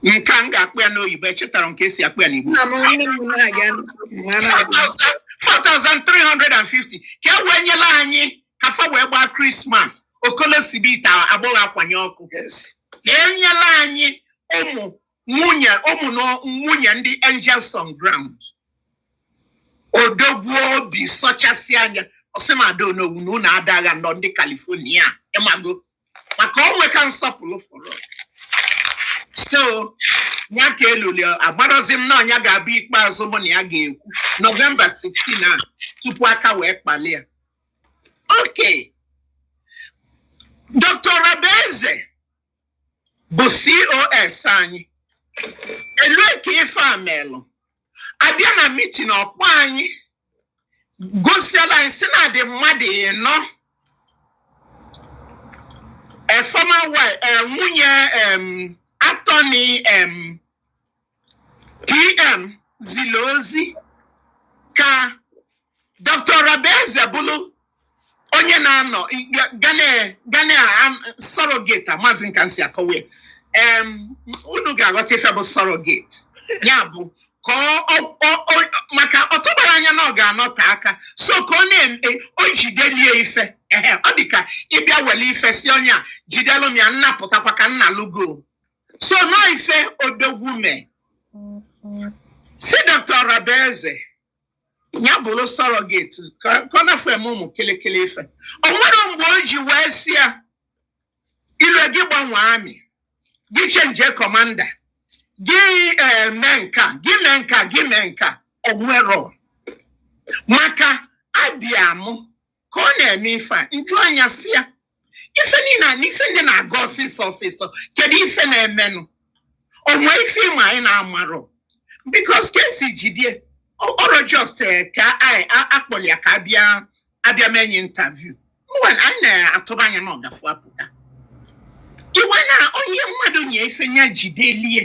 nke a m ga-akpọ ya n'oyibo echetarọ m ka e si akpọ ya n'igbo nna m nne m na-aga mara agwa. 4,350 ka e wee nyela anyị ka fa wee gbaa Christmas okolo sibe ite agbọghọ akwanye ọkụ Yes. ka e nyela anyị ụmụ nwunye ụmụ na nwunye ndị angels on ground odogwu obi sọchasị anya ọsị na ada onowu na ụmụ ada gha nọ ndị California ịmago maka o nwe ka nsọpụrụ for us so ya ka eluli agbarọzi m na ọ nya ga-abụ ikpeazụ mụ na ya ga-ekwu November 16 a tupu aka wee kpali ya okay Dr. Orabueze bụ COS anyị e lue ka ife a melụ a bịa na meeting ọ kpọ anyị gosiela anyị sị na ha dị mmadụ ịnọ a former wife eh, nwunye em, attorney em, PM zili ozi ka Dr. Orabueze bụrụ onye na-anọga na surrogate amazi m ka m si akọwa ya unu ga-aghọta ife bụ surrogate ya bụ ka maka ọ tụbarọ anya na ọ ga-anọte aka so ka ọ na-eme o jideli ya ife ee ọ dị ka ị bịa wele ife sị onye a jidelụ m ya m na-apụtakwa ka m nalụ gị o so na ọ ife odogwu mee sị Dr. Orabueze ya bụrụ surrogate ka ka ọ na-afụ eme ụmụ kịlịkịlị ife o nwerọ mgbe o ji wee sị ya i lue gị gbanwee army gị changie commander gị eh, mee nka gị mee nka gị mee nka o nwerọ maka abịa mụ ka ọ na-eme ife a m jụa nya sị ya ife niile a na ife ndị na-aga ọsịsọ ọsịsọ kedu ife na-emenụ o nwe ife ị ma anyị na-amarọ because ka e si jide ya ọrọ just eh, ka anyị a- akpọrọ ya ka a bịa a bịa mee nya interview mgbe anyị na-atụba anya na ọ ga-afụ apụta iwe na onye mmadụ nye ife ya jideli ya